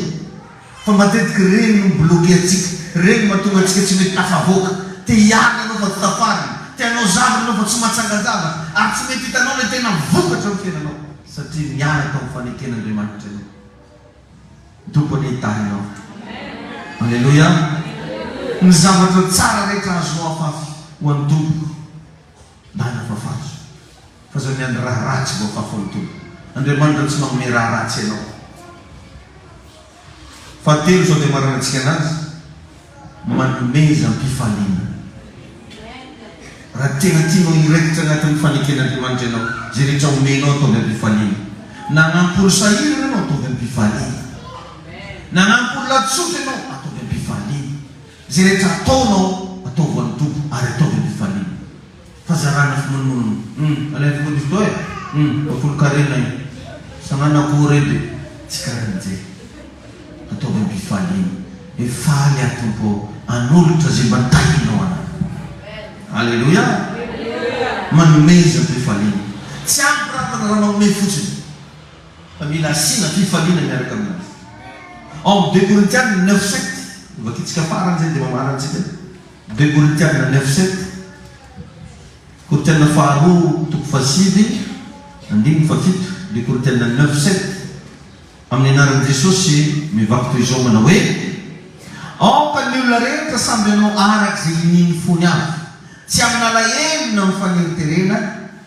Fa matetika ireny no mi-bloquer antsika, ireny no mahatonga antsika tsy mety tafavoaka. Te hiala ianao fa tsy tafarina, te hanao zavatra ianao fa tsy mahatsangan-javatra, ary tsy mety hitanao ilay tena vokatra amin'ny fiainanao, satria niala tao amin'ny faneken'Andriamanitra ianao. Ny Tompo anie hitahy anao. Aleloia! Ny zavatra tsara rehetra azo afafy ho an'ny Tompo. Bala fa fazo. Fa zao miandry raha ratsy vao fafo ny tolona. Andriamanitra tsy manome raha ratsy anao. Fahatelo izao dia maranan-tsika anazy manomeza am-pifaliana. Raha tena tianao hiraikitra anatin'ny faneken'Andriamanitra ianao, izay rehetra omenao ataovy am-pifaliana. Nanampy olon-sahy iray ianao, ataovy am-pifaliana. Nanampy olona tsotra ianao, ataovy am-pifaliana. Izay rehetra ataonao ataovo any Tompo ary ataovy am fifaliana fa zarana fimonomonona hum alain foko diso toa eh hum bafolo karena io sanana ko redy tsy karany je ataovy am pifaliana hoe faly aho Tompo ao anolotra ze mba tahinao anay aleloia manomeza pifaliana tsy ampy ravana raha manome fotsiny. Fa mila asiana fifaliana miaraka amin'azy. Ao amin'ny deux Korintiana neuf sept, vakintsika farany izay dia mamaha antsika. Deux Korintiana neuf sept, Korintiana faharoa toko fahasivy andininy fahafito, deux Korintiana neuf sept, Amin'ny anaran'i Jesosy mivaky toy izao manao hoe, Aoka ny olona rehetra samby hanao araka izay inian'ny fony avy, tsy amin'alahelo na amin'ny faneriterena,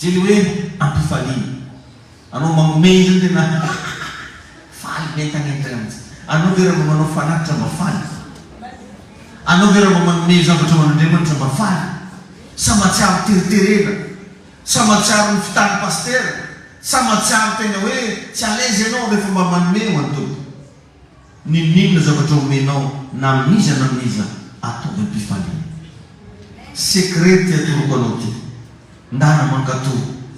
Zeny hoe ampifaliana anao manome izany tena hahahaha faly be an-tanety zany mihitsy anao ve raha mba manao fanatitra mba faly? Anao ve raha mba manome zavatra ho an'Andriamanitra mba faly? Sa mahatsiaro teriterena? Sa mahatsiaro ny fitan'ny pasitera? Sa mahatsiaro tena hoe tsy à l'aise ianao rehefa mba manome ho an'ny Tompo? N'inon'inona zavatra omenao na amin'iza na amin'iza ataovy am-pifaliana. Secret ty atoroko anao ty. Ndana mankato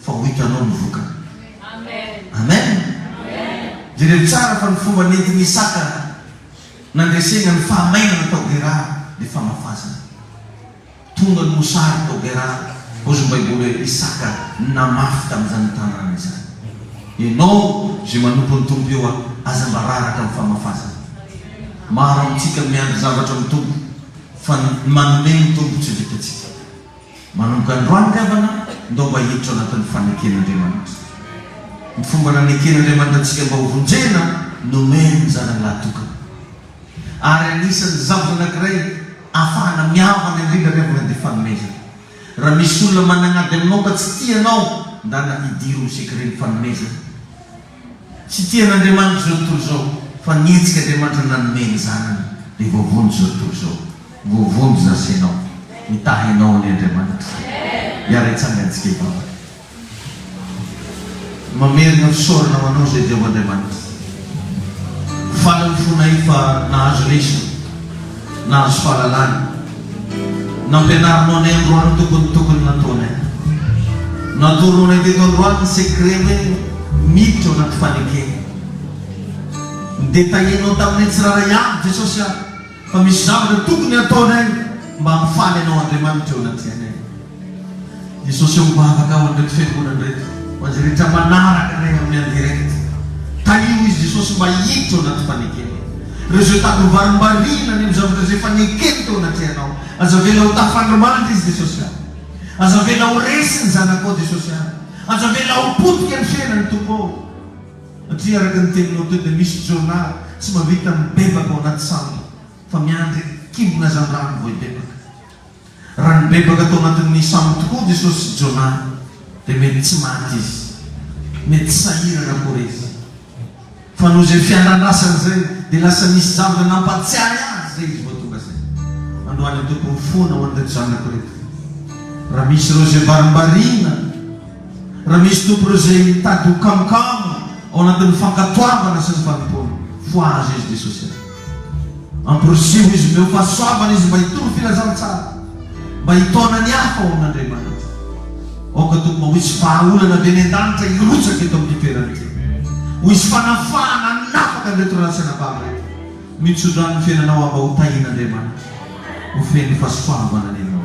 fa ho hitanao ny vokany. Amen! Jereo tsara fa ny fomba nentin'i Isaka nandresegna ny fahamainana tao Gerara dia famafazana. Tonga ny mosary tao Gerara, ozy ny Baiboly hoe Isaka namafy tamin'izany tanàna izany. Ianao izay manompo ny Tompo eo aza mba raraka amin'ny famafazana. Maro amintsika no miandry zavatra amin'ny Tompo, fa ny manome ny Tompo tsy vitantsika. Manomboka androany havana, ndao mba hiditra ao anatin'ny faneken'Andriamanitra. Ny fomba naneken'Andriamanitra antsika mba ho vonjena, nomeny ny Zanany lahy tokana. ary anisan'ny zavona anankiray ahafahana mihavana indrindra avy amin'ilay dia fanomezana. Raha misy olona managnady aminao ka tsy tia anao, ndana hidiro ny secret-n'ny fanomezana. Tsy tian'Andriamanitra izao tontolo izao, fa nihetsika Andriamanitra nanome ny Zanany, dia voavonjy izao tontolo izao. Voavonjy za sy ianao. Mitaha anao anie Andriamanitra. Hiara-hitsangan-tsika hivavaka. Mamerina fisaorana ho Anao Jehovah Andriamanitra. Faly ny fonay fa nahazo lesona, nahazo fahalalana. Nampianarinao anay androany ny tokony tokony nataonay. Natoronao anay teto androany ny secret hoe miditra ao anaty fanekena. Nodetailler-nao taminay tsirairay avy Jesosy ah. Fa misy zavatra tokony hataonay mba hahafaly anao Andriamanitra eo anaty fiainay. Jesosy ô mivavaka aho an'ireto fiangonana ireto, ho an'izay rehetra manaraka anay amin'ny en direct. Tahiho izy Jesosy mba hiditra ao anaty fanekena. Ireo izay tady ho varimbariana any amin'ny zavatra izay efa nekeny teo anatrehanao, aza avela ho tafandrimandry izy Jesosy ah. Aza avela ho resy ny zanakao Jesosy ah. Aza avela ho potika ny fiainany Tompo ô. Satria araka ny teninao teo dia misy Jonah tsy mahavita mibebaka ao anaty sambo fa miandry kimbona zandrano vao hibebaka. Raha nibebaka tao anatin'ny sambo tokoa Jesosy sy Jonah dia mety tsy maty izy. Mety sahirana akory izy. Fa noho izay fiandrandasany izay dia lasa nisy zavatra nampatsiahy azy izay izy vao tonga izay. Androany Tompo mifoana ho an'ireto zanako ireto. Raha misy ireo izay varimbariana. Raha misy tompony izay mitady ho kamokamo ao anatin'ny fankatoavana sy ny fanompoana, fohaza izy dia sosialy. Amporisiho izy omeo fahasoavana izy mba hitory filazantsara, mba hitaona ny hafa ho amin'Andriamanitra. Aoka Tompo mba ho hisy vahaolana avy any an-danitra hirotsaka eto amin'ity toerana ity. Ho hisy fanafahana hanafaka an'ireto ray lahy sy anabavy ireto. Mitso-drano ny fiainanao aho mba ho tahin'Andriamanitra, ho feno fahasoavana ny anao.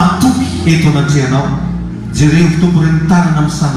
Matoky eto anatrehanao. Jerevo Tompo reny tanana misaraka.